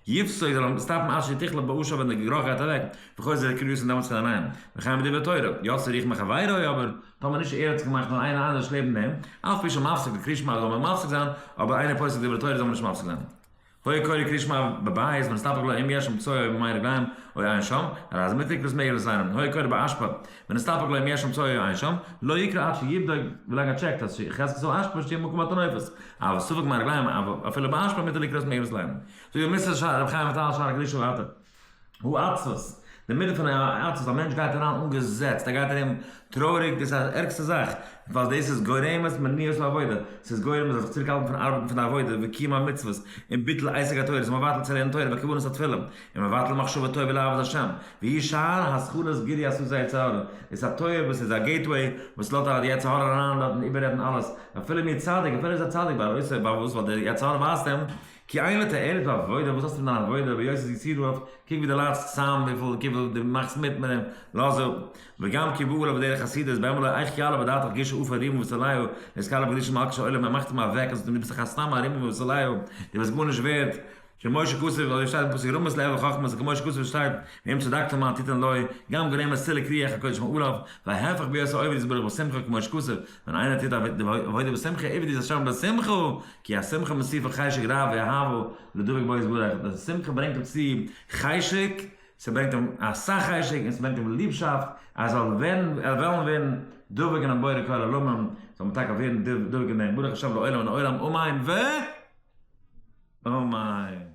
יפסוק זאל עס סטאפן עד שתכלה באשה ווען די גערוך גייט אוועק וכו' זעט ער כריות און דעמאלטס קען ער ליינען וכן בדברי תורה יצא ריח מחבירו אבער טאמער נישט ער האט זיך געמאכט נאר איינער אנדערש לעבן דעם, אף פי שמפסיק די קריאת שמע זאל מען מפסיק זיין, אבער איינער פוסק דברי תורה זאל מען נישט מפסיק זיין. הוי קורא קריאת שמע בבית ונסתפק לו אם יש שם צואה אויב מיין רגליים אוי אין שם, הרי אז מ'פרעגט וואס מעגליך זיין און הוי קורא באשפה ונסתפק לו אם יש שם צואה אוי אין שם, לא יקרא עד שיבדוק ווילאנג ער טשעקט אז חזקת זאל אשפה שטי מקום אתון עופות, אבער ספק מיין רגליים אבער אפילו באשפה מותר לקרוא עס מעגליך זיין. זאג די מס' ר' חיים וויטאל שער הקדושה ואתר. האצעס, די מידה פון האצעס, א מענטש גייט אריין אנגעזעצט, ער גייט ארום טרויעריג, דאס איז די ערגסטע זאך, ווייל דאס איז גורמת מניעות לעבודה, ס'איז גורם זיך צוריקהאלטן פון ארבעטן פון די עבודה וקיום המצוות, און ביטול עסק התורה, איז מבטל צו לערנען תורה וכוונת התפילה, און מבטל מחשבה טובה לעבוד השם, והיא שער הזכרות גירי עשו זה יצר הרע, איז א טויער וואס איז א געיטוועי וואס לאזט אריין די יצר הרע אריין דארט און איבעררעדן אלעס, אפילו מיר צדיק, אפילו ער איז א צדיק, ווייל אויסער ביי וואס, ווייל דער יצר הרע ווייזט אים כי אין את הערב העבודה, וואס האסטו מיט דיין עבודה, ויוסי זיג צו רוב, קוק ווי דו ליידסט צאם, וויפיל דו מאכסט מיט מיט אים, לאז אפ. וגם כי באה עליו דרך חסידות, בימים אלה איך כי עלה בדעתך גישו אויף ארימון וסוליהו, דער סקאלער פון קדושה מלכה של עולם, ער מאכט אים אוועק אז דו ביסט דאך א סתם ארימון וסוליהו, דו ביסט גארנישט ווערד, כמו שכתוב, אזוי שטייט אין פסוק רמות לעבר חכמות, וכמו שכתוב שטייט, ואם צדקת מה תתן לו, גם גורם עס צילק ריח הקודש מעליו, וההיפך בהיות העובד יתברך בשמחה כמו שכתוב, ווען איינער טוט עבודה בשמחה עבד איז השם בשמחו, כי השמחה מוסיפה חשק רב ואהבה לדבוק בו יתברך, די שמחה ברענגט אים צו חשק, ס'ברענגט אים אסאך חשק און ס'ברענגט אים ליבשאפט אז ער זאל ווערן וועלן ווערן דבוק אינעם בורא כל עולמים, זאל מען טאקע ווערן דבוק אין דעם ברוך השם לעולם אין עולם אמן ו. אמן.